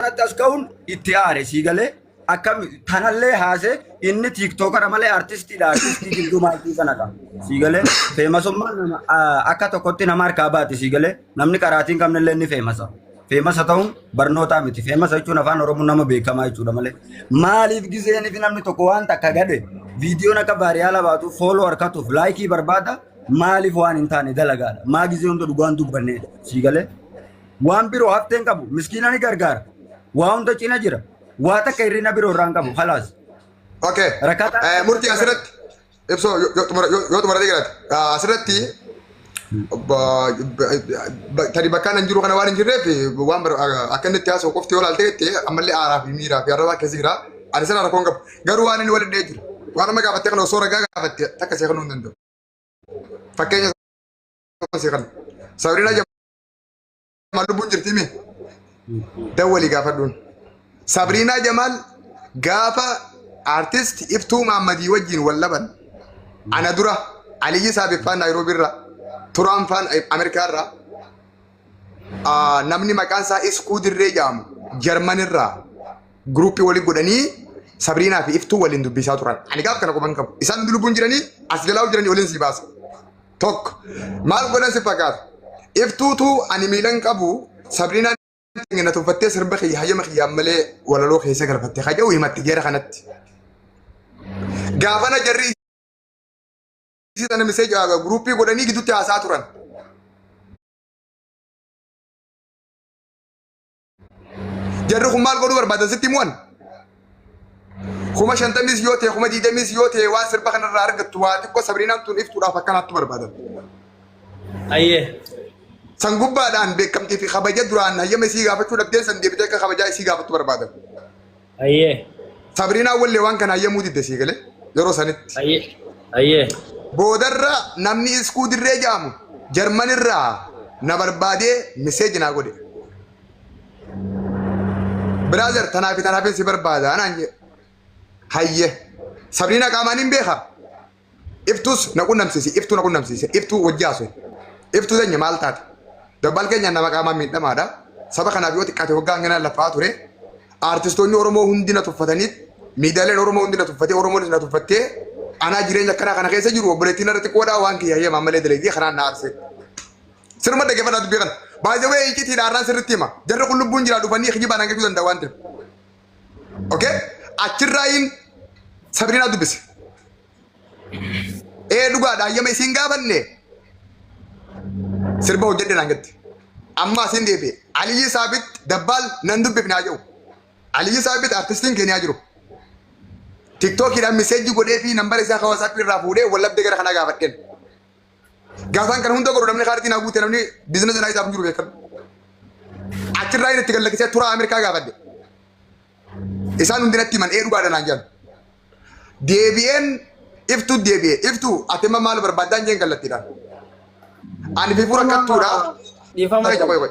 kanatti as ka'uun itti aare sii galee akkam tanallee haasee inni tiiktookara malee artistiidha artistii gidduu maaltii sanadha sii galee feemasummaan nama- a- akka tokkotti nama harkaa baati sii galee namni qaraatiin qabnillee ni feemasa feemasa ta'uun barnootaa miti feemasa jechuun afaan oromoo nama beekamaa jechuudha malee maaliif gizeeniif namni tokko waan takka gade viidiyoon akka baariyaala baatu fooloo harkatuuf laayikii barbaada maaliif waan hin taane dalagaadha maa gizee hunda dhugaan dubbanneedha sii galee Waan biroo haftee hin qabu. Miskiina ni gargaara. Waa hunda cina jira. Waa takka hirrina biroo irraa hin qabu. Halaas. Okay. Rakkataa- Eh, Murtii asirratti ibsoo yoo- yoo xumura- yoo yoo xumuratee jiraate ah, asirratti ba- ba- ba- tadi bakkaan hin jiru kana waan hin jirreef waan bar- ah, akka inni itti haasa'u qofti yoo ilaalte jettee ammallee aaraa fi miiraa fi arrabaa keessa jira. Ani sana rakkoon qabu. Garuu waan inni waliin dhahee jiru. Waan amma gaafattee kana osoo ragaa gaafatte takka seeqanuu hin danda'u. Fakkeenya seeqan. Sabrina Jamaal lubbuun jirti mee? Dawwalii gaafadhuun. Sabriinaa Jamaal gaafa artist Iftuu Maammadii wajjin wal dhaban ana dura Aliyyi Saabiffaan Naayiroobii irraa Turaan Faan Ameerikaa irraa ah, namni maqaan isaa Iskuu Dirree jedhamu Jarman irraa Guruuppii waliin godhanii Sabriinaa fi Iftuu waliin dubbisaa turan. Ani gaaf kana quban qabu. Isaan hundi lubbuun jiranii as jalaa jiranii waliin sii baasa. Tokko maal godhan si fakkaata? Iftuutu ani miilan qabu Sabriinaan na tuffattee sirba kiyya hayyama kiyyaan malee walaloo keessa galfatte kaja'u himatti geera kanatti. Gaafana jarri isii sana misee guruuppii godhanii gidduutti haasaa turan. Jarri kun maal godhuu barbaadan sitti himuwan? Kuma shantamis yoo ta'e kuma diidamis yoo ta'e waan sirba kanarraa argattu waa xiqqoo sabrinaan tun iftuudhaaf akkanaattu barbaadan. Ayyee. San gubbaadhaan beekamtii fi kabaja duraan hayyama isii gaafachuu dhabdeen san deebitee akka kabajaa isii gaafattu barbaadan. Ayyee. Sabriinaan wallee waan kana hayyamuu didde sii galee yeroo sanitti. Ayyee. Ayyee. Boodarra namni iskuu dirree jaamu Jarman irraa na barbaadee miseeji naa godhe. Biraazer tanaa fi tanaafin si barbaada anaan jedhe. Hayyee. Sabriina qaamaan hin beekaa? Iftuus na qunnamsiisi. Iftuu na qunnamsiise. Iftuu wajji haasoyi. Iftuu teenya maal taate? Dabbal keenyaan nama qaamaan miidhamaadha. Saba kanaaf yoo xiqqaate waggaa hanganaan laffa'aa ture. Aartistoonni Oromoo hundi na tuffatanii miidiyaaleen Oromoo hundi na tuffatee Oromoonis na tuffattee anaa jireenya akkanaa kana keessa jiru obboleettiin irra xiqqoodhaa waan kiyya hayyama ammallee dalagee kanaan na aarsee. Sirma dhaggeeffadhaa dubbii kana. Baay'ee waa'ee icitiidha har'aan sirritti hima. Jarri kun lubbuun jiraa dhufanii kijibaan hangachuu danda'a waan ta'eef. Okay? Achirraayin Sabirinaa dubbise. Ee dhugaadha hayyama isiin gaafanne sirba hojjedhe naan jette. Amma asiin deebi'e. Aliyyi Saabit dabbaal nan dubbifne haa jedhu. Aliyyi Saabit artistiin keenya haa jiru. Tiktookiidhaan miseejji godhee fi nambara isaa hawaasaaf irraa fuudhee wallabdee gara kanaa gaafadheen. Gaafaan kana hunda godhu namni kaartii naa guute namni biizinasii naa isaaf hin jiru beekan. Achirraa inni itti gallakkisee turaa Ameerikaa gaafadhe. Isaan hundi natti himan ee dhugaadha naan jedhan. Deebi'een iftuu deebi'e iftuu ati amma maal barbaaddaa hin jeen kallattiidhaan. Ani fifuun akkattuudha. Dhiifama Qoy, qoy, qoy.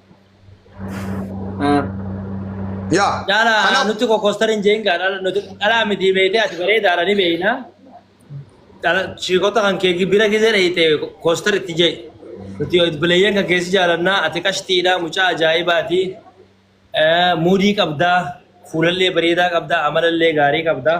Yaa. Jaala kanaaf- nuti kokoostar hin jeen gaa dhala nuti dhalaa miti beektee ati bareedaadha ni beekna. Dhala shiikota kan kee bira gisee dheeyte koostar itti jee. Nuti bileeyyan kan keessi jaalannaa ati qashtiidha mucaa ajaa'ibaati. Eh, Muudii qabdaa fuulallee bareedaa qabdaa amalallee gaarii qabdaa.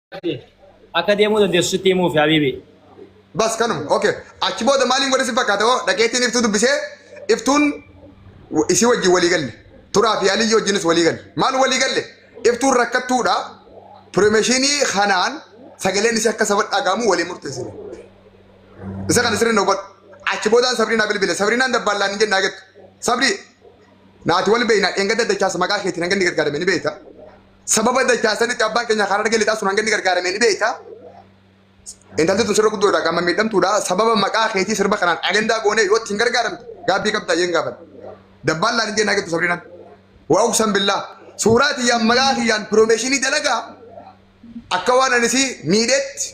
Akka deemuu dandeessu sitti himuufi habiibi. Bas kanuma. Okay. Achi booda maaliin godhe si fakkaata hoo dhaqeetiin iftuu dubbisee iftuun wa- isii wajjin walii galle. Turaa fi aliyyii wajjinis walii galle. Maal walii galle? Iftuun rakkattuudha. Piromeeshinii kanaan sagaleen isii akka saba dhagahamu walii murteessine. Isa kana sirriin hubadhu. Achi boodaan Sabriinaa bilbile. Sabriinaan dabbaallaan hin jennaa jettu. Sabrii naati wal beeyna dheengadda dachaas maqaa keetiin hanga inni gargaarame ni beeyta. Sababa dachaa sanitti abbaan keenya Harargee lixaa sun hanga inni gargaaramee ni beekta. Intalli tun sirra guddoodha qaama miidhamtuudha. Sababa maqaa keetii sirba kanaan ajandaa goonee yoo ittiin gargaaramte gaabbii qabda jeen gaafadha. Dabbaallaan hin jeen hagettu sabrinan. Waa uksan billaa. Suuraa tiyyaan maqaa kiyyaan piroomeeshinii dalagaa akka waan anisii miidheetti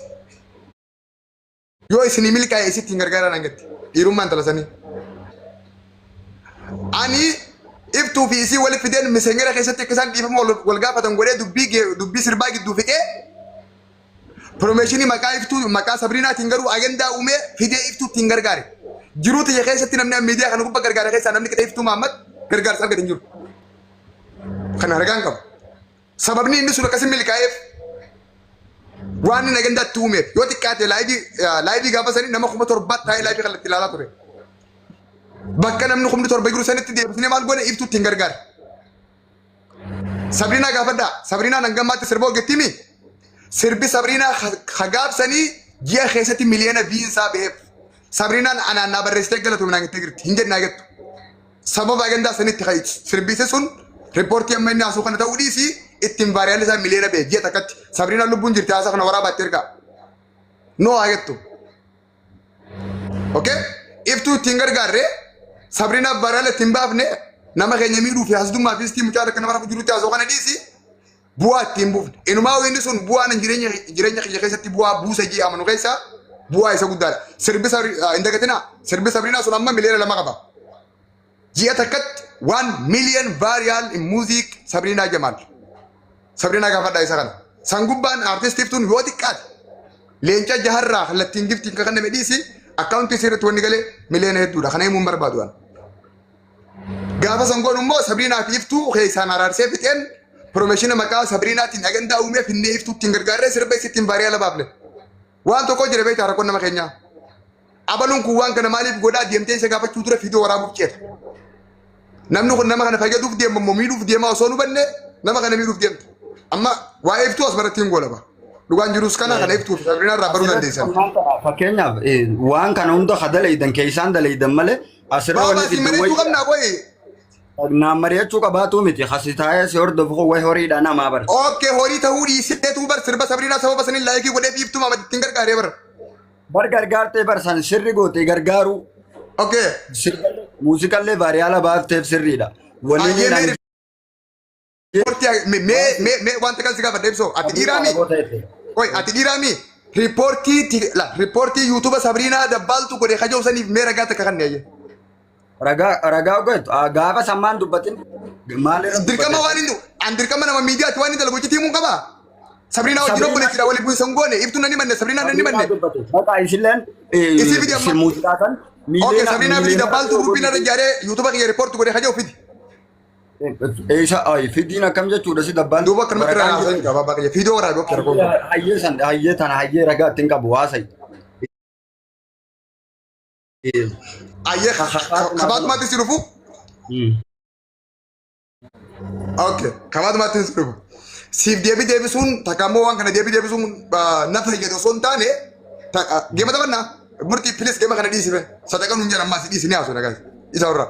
Yoo isinii milkaa'e isitti hin gargaaraan hangatti. Dhiirummaa intala sanii. Ani iftuu fi isii walitti fideen misenyera keessatti akka isaan dhiifama wal- wal gaafatan godhee dubbii gee- dubbii sirbaa gidduu fixee piroomeeshinii maqaa iftuu maqaa sabriinaatiin garuu agendaa uumee fidee iftuutti hin gargaare. Jiruu tiyya keessatti namni an miidiyaa kana gubbaa gargaara keessaa namni qixa iftuu Mahammad gargaarsa argate hin jiru. Kan argaan qabu. Sababni inni sun akkas hin milkaa'eef waan inni agendaa itti uumeef yoo xiqqaate laayivii eh, laayivii gaafa sanii nama kuma torbaa taa'ee laayivii kan itti ilaalaa ture. Bakka namni kumni torba jiru sanitti deebisnee maal goone ibsuutti hin gargaare. Sabriinaa gaafadhaa. Sabriinaan hanga ammaatti sirba hojjettiimi. Sirbi Sabriinaa ha- ha gaabsanii ji'a keessatti miliyoona viinsaa ba'eef. Sabriinaan anaan naa barreessitee galatoomnaan jettee jirti. Hin jennaa jettu. Sababa ajandaa sanitti kan sirbiise sun riippoortii amma inni haasuu kana ta'uu dhiisii ittiin vaariyaalli isaa miliyoona ba'e ji'a takkatti Sabriinaan lubbuun jirti haasaa kana waraabaatti ergaa. Noo haa jettu. Okay? Iftuu ittiin gargaarre Sabriinaaf vaariyaala ittiin baafne nama keenya miidhuu fi hasdummaa fi istii mucaa takka nama rafu jirutti haasoo kana dhiisii bu'aa itti hin buufne. Inumaa inni sun bu'aan hin jireenya jireenya kiyya keessatti bu'aa buusa jee amanu keessaa bu'aa isa guddaadha. Sirbi sabri hin dagatinaa sirbi sabriinaa sun amma miliyoona lama qaba. Ji'a takkatti waan miliyoon vaariyaal in muuziik sabriinaa jamaal. Sabriinaa gaafadhaa isa kana. San gubbaan aartistiif tun yoo xiqqaate leenca jaharraa kallattiin giftiin kan kenname dhiisi akkaawuntii sirriitti wanni galee miliyoona hedduudha. Kana himuun barbaadu waan. Gaafa san godhu immoo Sabriinaa fi Iftuu keessaan araarsee fixeen pirofeeshina maqaa Sabriinaatiin agandaa uumee finnee Iftuu ittiin gargaarree sirba isittiin baariyaa labaafne. Waan tokko jira beektaa rakkoon nama keenyaa. Abaluun kun waan kana maaliif godhaa deemtee isa gaafachuu dura fiidoo waraabuuf ceeta. Namni kun nama kana fayyaduuf deema immoo miidhuuf deemaa osoo nu banne nama kana miidhuuf deemta. Amma waa'ee Iftuu as baratti hin goolaba. Dhugaan jirus kana kana Iftuu fi Sabriinaa irraa baruu dandeessan. Fakkeenyaaf eh, waan kana hunda ka dalaydan keessaan dalaydan malee Asirra Baaba wanni asii gidduu mari'achuu wayya. qabnaa qoyi. Naan mari'achuu qabaatuu miti. Kasi taa'ee si hordofu kun wayi horiidha namaa bar. Okkee horii ta'uu dhiiseetuu bar sirba sabriinaa sababa saniin laayikii godhee biiftuu maamatti ittiin gargaaree bar. Bar gargaartee bar san sirri gootee gargaaruu. Okkee. Sirba- Muuziqallee baariyaala baafteef sirriidha. Wanni Ayyee inni meeri Riippoortii haa- mee- mee mee mee wanta kan si gaafadhe ibsoo ati Abdii dhiiraa mii? Oromoo ta'etti. Oi ati dhiiraa mii? Riippoortii ti- la riippoortii yuutuuba Sabriinaa Dabbaaltu godhe kajoo saniif mee ragaa takka kan neeyye. Ragaa ragaa ogeettu Ah, gaafa sammaan dubbatin maalirra Dirqama waan inni an dirqama nama miidiyaatti waan inni dalagu itti himuu qaba. Sabriinaa wajjin Sabriinaa- obboleessidha waliin bu'iinsa hin goone ibtuun ni manne Sabriinaan ni manne. Maqaa isilleen Isii fidi amma. muuziqaa kan Okay Sabriinaa fidi Dabbaaltu guruppiin irra ijaaree yuutuuba kiyya riippoortii godhe kajoo fidi. Eesha ayi fidiin akkam jechuudha si dabbaan. Duuba akka namatti irraa haasa'in qaba abbaa kiyya. Fiidoo waraabe okkee rakkoon qabu. Hayyee san hayyee tana hayyee ragaa ittiin qabu haasa'e. Ayyee ka- ka- ka- kabaatumaatti si dhufu. Okay, kabaatumaatti si dhufu. Siif deebii deebisuun takka immoo waan kana deebii deebisuun ah, na fayyada osoo hin taane ta- ah, geema taphannaa murtii pilis geema kana dhiisife sadaqan hin jedhan ammaa si dhiisini haasoo nagaa isa warraa.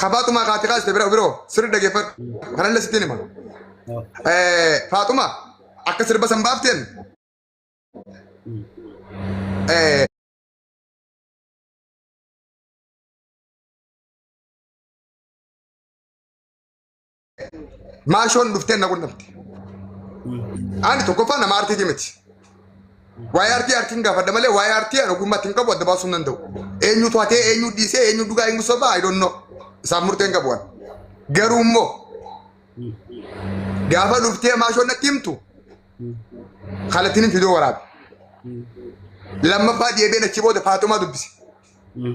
Ka Faaxumaa kaati kaaste bira biroo sirri dhageeffadhu. Kanallee sittiin hima. Eh, Faaxumaa akka sirba san baafteen eh, maashoon dhuftee na qunnamte. Ani tokkoffaa nama artiiti miti. Waa'ee artii artiin gaafadha malee waa'ee artii ani ogummaa ittiin qabu adda baasuu hin danda'u. Eenyu to'atee eenyu dhiisee eenyu dhugaa eenyu sobaa I don't know. Isaan murteen qabu waan. Garuu immoo gaafa dhuftee maashoon natti himtu kallattiin fidoo waraabe. Lammaffaa deebiin achi booda Faaxumaa dubbise.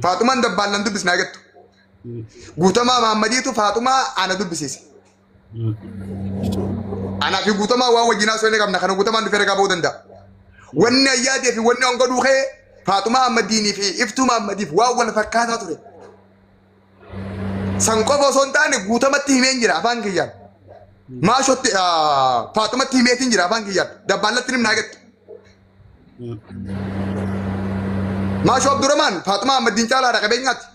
Faaxumaan dabbaallan dubbisnaa jettu. Guutamaa Mahaammadiitu Faaxumaa ana dubbisiise. Anaa fi guutamaa waan wajjin haasoo inni qabna kana guutamaan dhufee ragaa ba'uu danda'a. Wanni ayyaadee fi wanni hanga duukee Faaxumaa Ahmadiinii fi Iftuu Mahaammadiif waan wal fakkaataa ture. San qofa osoo hin taane guutamatti himeen jira afaan kiyyaan. Maashotti Faaxumatti himeetiin jira afaan kiyyaan. Dabbaallatti nimna agattu. Maashoo Abdurrahmaan Faaxumaa Ahmadiin caalaadha qabeenyaatti.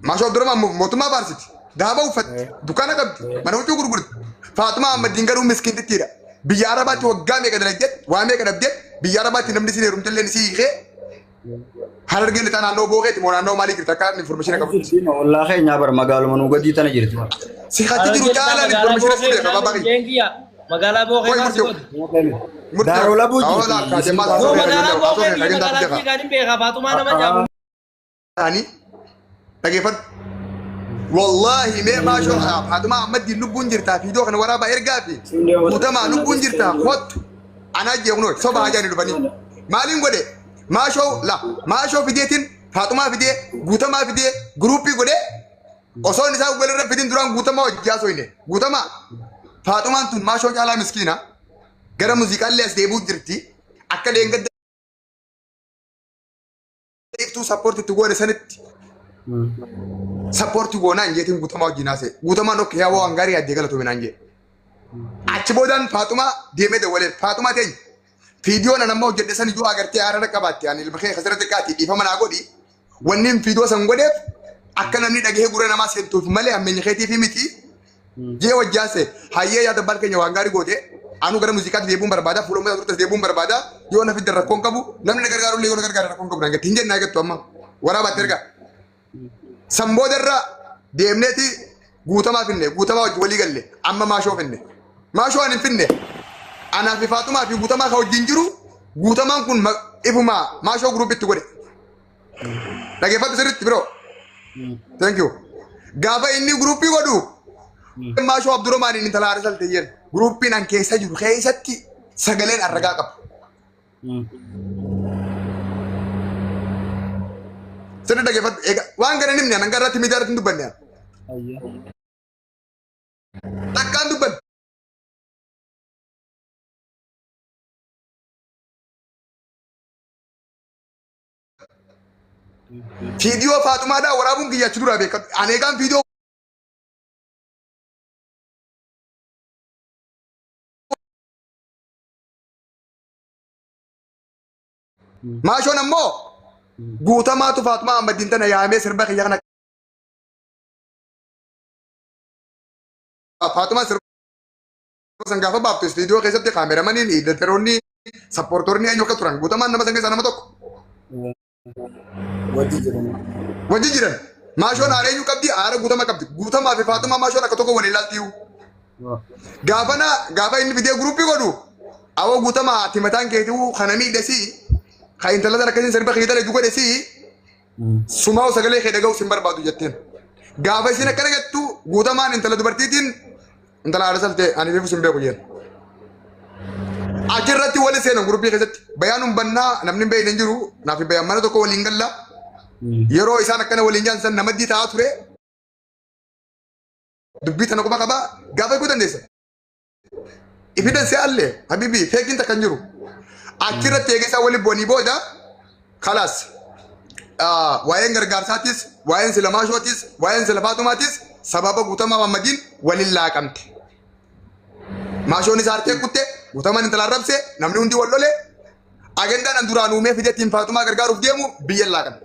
Maashoo Abdurrahmaan mo- mootummaa baarsiti. Daaba uffatti. Dukkaana qabdi. Mana huccuu gurgurti. Faaxumaa Ahmaddiin garuu miskiintittiidha. Biyya Arabaatti waggaa meeqa dalagdeet, waa meeqa dhabdeet, biyya Arabaatti namni siin heerumte illee si hiikee harargee lixaa naannoo bookeeti moo naannoo maalii jirti akka information qabu. Ollaa keenyaa bara magaaluma nuu gadii tana jirti. Si hatti jiru jaalaan information si beeka baabaa kiyya. Magaalaa Bookee Qoy maal si murti. godhu? Daaroo labuu Awwaalaa jirti. kaasee maal Yoo haasofne kan magaalaa jennu haasofne Bookee kan jennu magaalaa haasofne. Jiigaan hin beekaa Faaxumaa nama jaamu. ani dhageeffadhu wallaahi mee maashoo haaf haatumaa ammaddiin lubbuun jirtaa fiidoo kana waraabaa ergaa fi guutamaa lubbuun jirtaa kottu anaa jeeqnoo soba hajaani dhufanii maaliin godhe maashoo la maashoo fideetiin faatumaa fidee guutamaa fidee guruuppii godhe osoo inni isaa walirra fidin duraan guutamaa hojjaa soyne guutamaa faatumaan tun maashoo caalaa miskiina gara muuziqaallee as deebuu jirti akka leengadda iftuu sappoorti itti goone sanitti sappoorti goonaan jeetiin guutamaa wajjin haasee guutamaan ok yaa waan gaarii addee galatoome naan jee achi boodaan faaxumaa deemee dawwalee faaxumaa teenya fiidiyoo nan amma hojjedhe san iyyuu agartee haarara qabaatte ani ilma kee kasira xiqqaati dhiifama naa godhi wanni fiidiyoo san godheef akka namni dhagahee gurra namaa seentuuf malee hammeenya keetiif miti jee wajji haasa'e hayyee yaada baal keenya waan gaarii goote anuu gara muuziqaatti deebi'uun barbaada fuula uummata turtes deebi'uun barbaada yoo na fidde rakkoon qabu namni na gargaaru illee yoo na gargaare rakkoon qabu naan jette hin jennaa jettu amma waraabaatti ergaa san booda irra deemneeti guutamaa finne guutamaa wajji walii galle amma maashoo finne maashoo ani hin finne anaa fi faaxumaa fi guutamaa ka wajjin jiru guutamaan kun ma- ifumaa maashoo guruupitti godhe Dhaggeeffadhu sirriitti biroo. Thank you. Gaafa inni guruuppii godhu dhimmaa shoo Abdurrahmaan inni talaa Arsal ta'een guruuppiin an keessa jiru keessatti sagaleen arragaa qabu. Sirri dhaggeeffadhu egaa waan kana nimni an irratti miidiyaa irratti hin dubbanne an. Takkaan dubbanne. Viidiyoo Faaxumaadhaa waraabuun kiyya achi duraa beekadhu. Ani egaan viidiyoo maashoon ammoo guutamaatu Faaxumaa Ahmaddiin tana yaamee sirba kiyya kana Faaxumaa sirba san gaafa baaftu istiidiyoo keessatti kaameramaniin iidateroonni sappoortoonni eenyu akka turan guutamaan nama san keessaa nama tokko. Wajji jiran. Wajji jiran. Maashoon aara eenyu qabdi aara guutama qabdi guutamaa fi faatumaa maashoon akka tokko walii ilaalti iyyuu. Gaafa na gaafa inni fidee guruupii godhu awwa guutamaa ati mataan keetii kana miidhesii kan intala sana akkasiin sirba kee dalagu godhesii Sumaa'u sagalee kee dhaga'uus hin barbaadu jetteen. Gaafa isin akkana jettu guutamaan intala dubartiitiin intala haadha saltee ani beekus hin beeku jeen. Achirratti wali seenan gurbii keessatti bayaan hin bannaa namni hin beekne hin jiru naaf hin bayaan mana tokko waliin galla. Yeroo isaan akkana waliin jaan san namaddii ta'aa ture dubbii tana quba qabaa gaafa eeguu dandeessa. Ifidhan si alle habibi feekin takka hin jiru. Achirratti eegesaa wali bu'anii booda kalaas ah, waa'een gargaarsaatis waa'een silamaashootis waa'een silafaatumaatis sababa guutamaa mammadiin waliin laaqamte. Maashoon isaa harkee kutte guutamaan intala arrabse namni hundi wal lole agendaan an duraan uumee fideetiin faatumaa gargaaruuf deemu biyya laaqamte.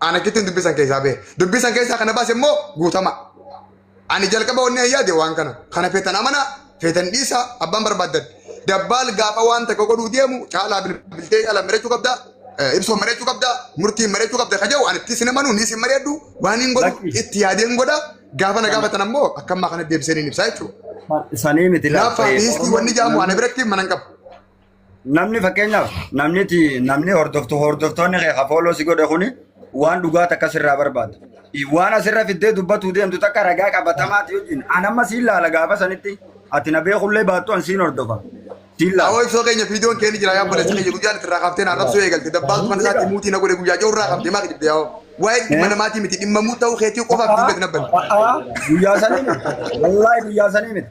Ana kittiin dubbii san keessaa bahe. Dubbii san keessaa kana baase immoo guutama. Ani jalqaba wanni an yaade waan kana. Kana feetan amana, feetan dhiisa, abbaan barbaaddan. Dabbaal gaafa waan takka godhuu deemu caalaa bilbiltee caalaa mari'achuu qabda. eh, Ibsoo mari'achuu qabda. Murtiin mari'achuu qabda. Kaja'u ani itti sin amanu, ni sin mari'adhu. Waan hin godhu Lakki. itti yaadeen godha. Gaafa na gaafatan ammoo akkammaa kana deebisee ni ibsaa jechuudha. Sanii miti Hinaaffaa fi hiistii wanni jaamu ana biratti mana hin qabu. Namni fakkeenyaaf namni namni hordoftu hordoftoonni kee kafooloo si godhe kuni waan dhugaa takka sirraa barbaada. Waan asirra fiddee dubbatuu deemtu takka ragaa qabatamaati wajjin. An amma siin laala gaafa sanitti ati na beekullee baattu an siin hordofa. Siin laala. Awoo ibsoo keenya viidiyoon keenya jira yaa balleessa keenya guyyaan itti irraa kaaftee naa rabsuu eegalte dabbaaltu kan isaatti muutii na godhe guyyaa jiru irraa kaaftee maa gidibde yaa waa'ee dhimma namaatii miti dhimma muu ta'uu keetii qofaaf dubbate nabbanne. Guyyaa sanii miti. Wallaahi guyyaa sanii miti.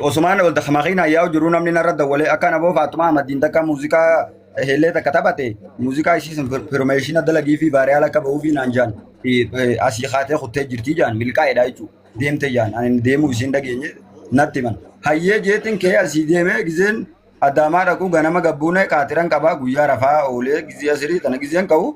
Osumaan ol takka makiina yaa'u jiru namni narra dawwalee akka naboo faatuma amaddiin takka muuziqaa heellee takka taphate muuziqaa ishii sun firmeeshina dalagii fi baariyaala akka ba'uu fi naan jaan asii kaatee kuttee jirtii jaan milkaa'edha jechuudha deemte jaan ani deemuu isheen dhageenye natti himan hayyee jeetiin kee asii deemee gizeen addaamaa dhaquu ganama gabbuunee qaatiran qabaa guyyaa rafaa oolee gizee asirii tana gizeen ka'u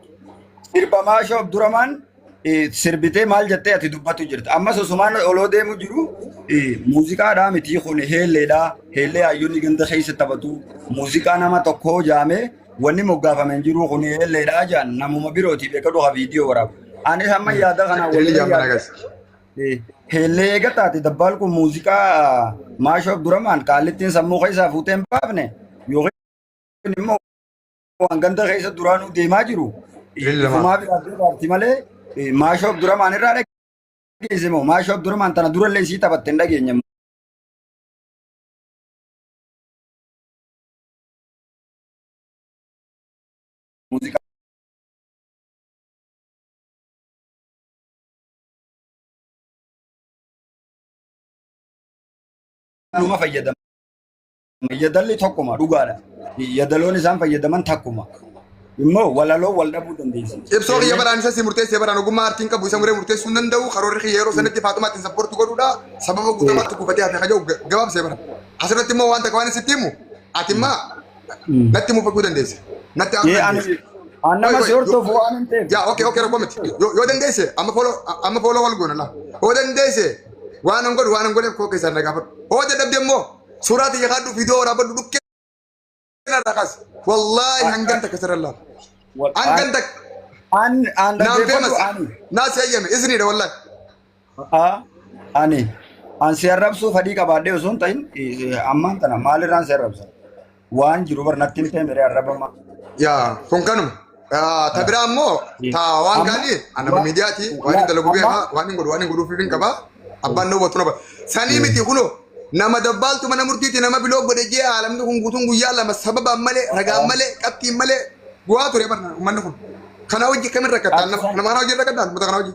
sirbamaa shoof duramaan eh, sirbitee maal jettee ati dubbatu jirta. Ammas osumaan oloo deemu jiru eh, muuziqaadhaa mitii kun heelleedhaa. Heellee hayyonni ganda keessa taphatu. Muuziqaa nama tokkoo jaamee wanni moggaafame hin jiru kun heelleedhaa jaan namuma birootiif eega dhufa viidiyoo waraabu. Anis amma yaada kana Tele waliin jaman yaada. agas. Eh, Heellee eega taate dabbaan kun muuziqaa maashoo duramaan qaallittiin sammuu keessaa fuutee hin baafne yookiin immoo waan ganda keessa duraanuu deemaa jiru ifumaa biraaf dabaarti malee maashoo Abdurrahmaan irraa dhageesse moo maashoo Abdurrahmaan tana durallee sii taphatte hin dhageenye. Muuziqaa numa fayyadama. Yadalli tokkuma dhugaadha. Yadaloon isaan fayyadaman takkuma. Immoo walaloo wal dhabuu dandeessi. Ibsoo kiyya baraan isa si murteessee baraan ogummaa aartiin qabu isa muree murteessuu hin danda'u karoorri kiyya yeroo sanatti faaxumaatti hin sapportu godhuudha sababa guutummaatti gufatee hafe kaja'u gabaabsee bara. Asirratti immoo wanta waan sitti himu ati immaa natti mufachuu dandeessa. Natti aanu dandeessa. Annama si hordofu waan hin ta'eef. Yaa okee okee rakkoo miti. Yoo dandeesse amma fooloo amma fooloo wal goona laa. Yoo dandeesse waan hin godhu waan hin godheef koo keessaan na gaafadhu. Yoo dadhabde immoo Suuraa tiyya kaadhu viidiyoo waraabadhu dhukkee irraa kaas. Wallaahi hangan takka sirra laala. Hangan takka. An an Naan feemas. dhaggeeffadhu ani. Naas eeyyame isiniidha wallaahi. Haa ani an si arrabsuu fadhii qabaadhee osoo hin ta'in eh, ammaan tana maalirraan si arrabsa? Waan jiru bar natti himtee miree arrabama. Yaa kun kanuma. Ah, Ta biraa immoo ta waan Amma- gaarii ani nama wa- miidiyaati waan hin dalagu amma- beekaa waan hin godhu waan hin godhuuf hin qaba abbaan na hubatu na bara. Sanii miti kunoo nama dabbaaltu mana murtiiti nama biloo godhe jee haalamni kun guutuun guyyaa lama sababaan malee ragaan malee qabxiin malee bu'aa ture bara uummanni kun. Kana hojii kamin rakkattaan nama nama kana hojii rakkattaan uummata kana hojii.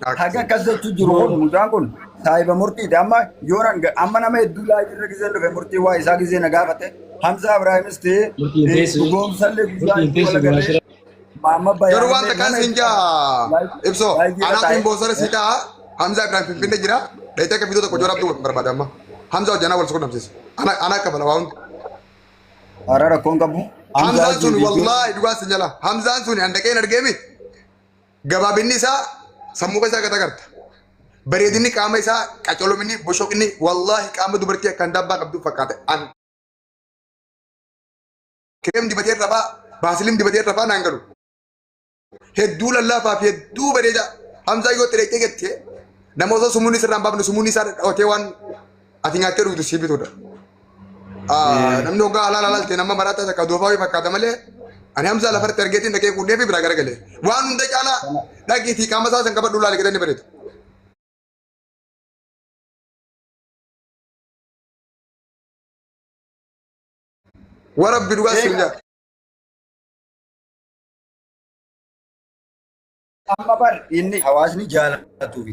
Haga akkas jechuun jiru kun mucaan kun saahiba murtiiti. Amma yoo nan amma nama hedduu laayii irra gizeen dhufe murtii waa isaa gizee na gaafate. Hamza Ibraahimis ta'ee Murtiin teessu. dhugoomsallee guyyaa Murtiin itti teessu wal duraa agarree. shira. Maamma Garuu Bayaanillee wanta kan nama siin hedduu jaa laayii ibsoo laayii irra anaaf hin taa'ee. boonsara sii ta'a Hamza Ibrahim Finfinnee jira dhayitee akka fiidoo tokko joorabduu barbaada amma Hamza hojjanaa wal suqunnamsiisa ana ana akka bala waa hundi Hara rakkoon qabu. Hamzaan Hamzaan sun jiru. wallaahi dhugaa sin jala Hamzaan sun handaqeen argeemi Gabaabinni isaa sammuu keessaa gad agarta. Bareedinni qaama isaa qacolominni boshoqni wallaahi qaama dubartii akkaan daabbaa qabdu fakkaata. An kireem dibatee irra faa baasiliin dibatee irra faa naan galu. Hedduu lallaafaa fi hedduu bareedaa. Hamzaa yoo xireettee jettee nama osoo sumuun isirraan baafne sumuun isaa dhawatee waan Ati nyaattee dhugdu sii bitudha. Eh. Namni hoggaa halaala halaalteen amma maraataa takka doofaa wayii fakkaata malee ani hamsaa lafarratti argeetiin dhaqee kuudhee fi biraa garagale. Waan hunda caalaa dhaqiitii qaama isaa san qabadhu laali gadanni bareedu. Warabbi dhugaa siin jaa. Amma bar inni hawaasni jaalatuufi.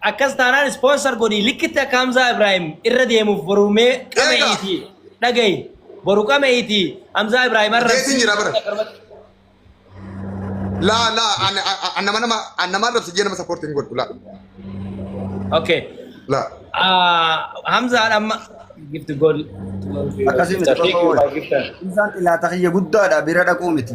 Akkas taanaan sponsor godhii likkitti akka Hamzaa Ibrahim irra deemuuf boru mee qame'iiti dhagayi boru qame'iiti Hamzaa Ibrahim irra Geetiin jira bara. Laa laa ani ani nama nama ani nama irratti jee nama support hin godhu laa Okay. laa. Ah, Hamzaa amma gift goal. Akkasii miti, Thank you, my gifter. Isaan ilaata kiyya guddaadha bira dhaquu miti.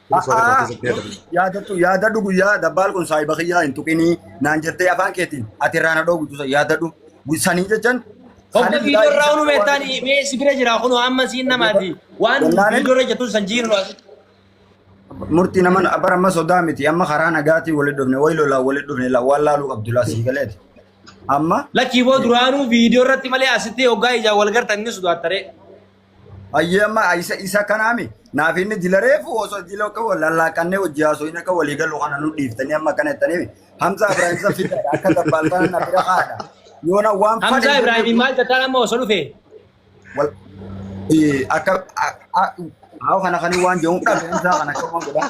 Kunis waan irraa keessatti yaadamu. Yaadattu yaadadhu guyyaa dabbaal kun saahiba kiyyaa hin tuqinii naan jettee afaan keetiin ati irraa na dhoogu tusa yaadadhu. Sanii jechan. Hogga viidiyoo irraa unu meettaan mee si bira jira kun amma siin namaati. Waan Jennaan- viidiyoo irra jettu san jiinu as. Murtii naman bara amma sodaa miti amma karaa nagaatiin walitti dhufne wayi lolaan walitti dhufne la- waan laaluu qabdu laa sii galeeti. Amma Lakkii boo duraanuu viidiyoo irratti malee asitti hoggaa ijaan wal gartan ni sodaattare. Ayyee amma isa isa kanaami naaf inni jila reefu osoo jila akka wal lallaaqannee hojii haasoo inni akka walii galu kana nu dhiiftanii amma kana jettanii Hamza Ibrahim isa fidaadha akka dabbaaltaan na bira haadha. Yoona waan Hamzaa fadhe Ibraahiim maal tattaan amma osoo dhufe wal eh, akka a- a- haa kana kan waan jedhu dhabe Hamza kana akka waan godhaa.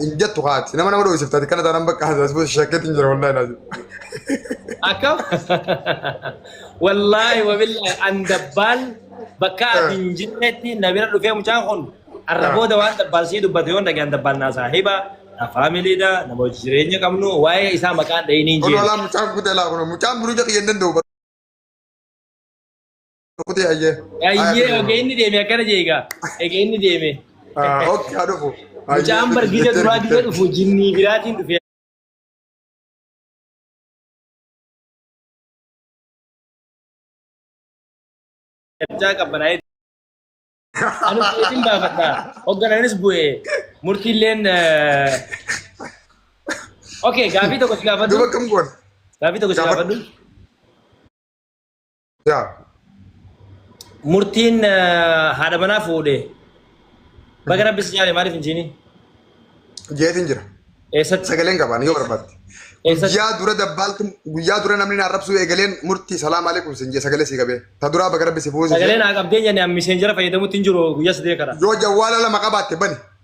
Hin jettu haati. Nama nama dho'isifta ati kana taanaan bakka haasasuu shakkeetti hin jira wallaahi laazim. Akka wallaahi wabillahi an dabbaan bakka ati hin jirretti na bira dhufee mucaan kun arra booda waan dabbaan sii dubbate yoo dhagaan dabbaan naa saahiba na faamiliidha nama hojii jireenya qabnu waa'ee isaa maqaan dhahiniin Kun jeen. olaa mucaan kutee laa kun mucaan biruu jedhu hin danda'u. Kutee ayyee. Ayyee oge inni deeme akkana jee egaa. Ege inni deeme. Oke haa dhufu. Mucaan bargiisa duraa gisa dhufu jinnii biraatiin dhufe. Mucaa qabbanaa'ee. Ani bu'eetiin baafadha. Hogganaanis bu'ee. Murtiilleen. Oke gaafii tokko si gaafadhu. Duba kam goon? Gaafii tokko si gaafadhu. Yaa. Murtiin eh, haadha manaa fuudhe. Baga rabbi si jaale maaliif hin jiini? Jeetiin jira. Eessatti? Sagaleen qabaan yoo barbaadde. Eessatti? Guyyaa dura dabbaaltu guyyaa dura namni naa rabsuu eegaleen murtii salaam aleekum sin jee sagalee sii qabee. Ta duraa baga rabbi si fuusise. Sagalee naa qabdee jenne an miseenjara fayyadamutti hin jiru guyyaa sadii kana. Yoo jawwaala lama qabaatte bani.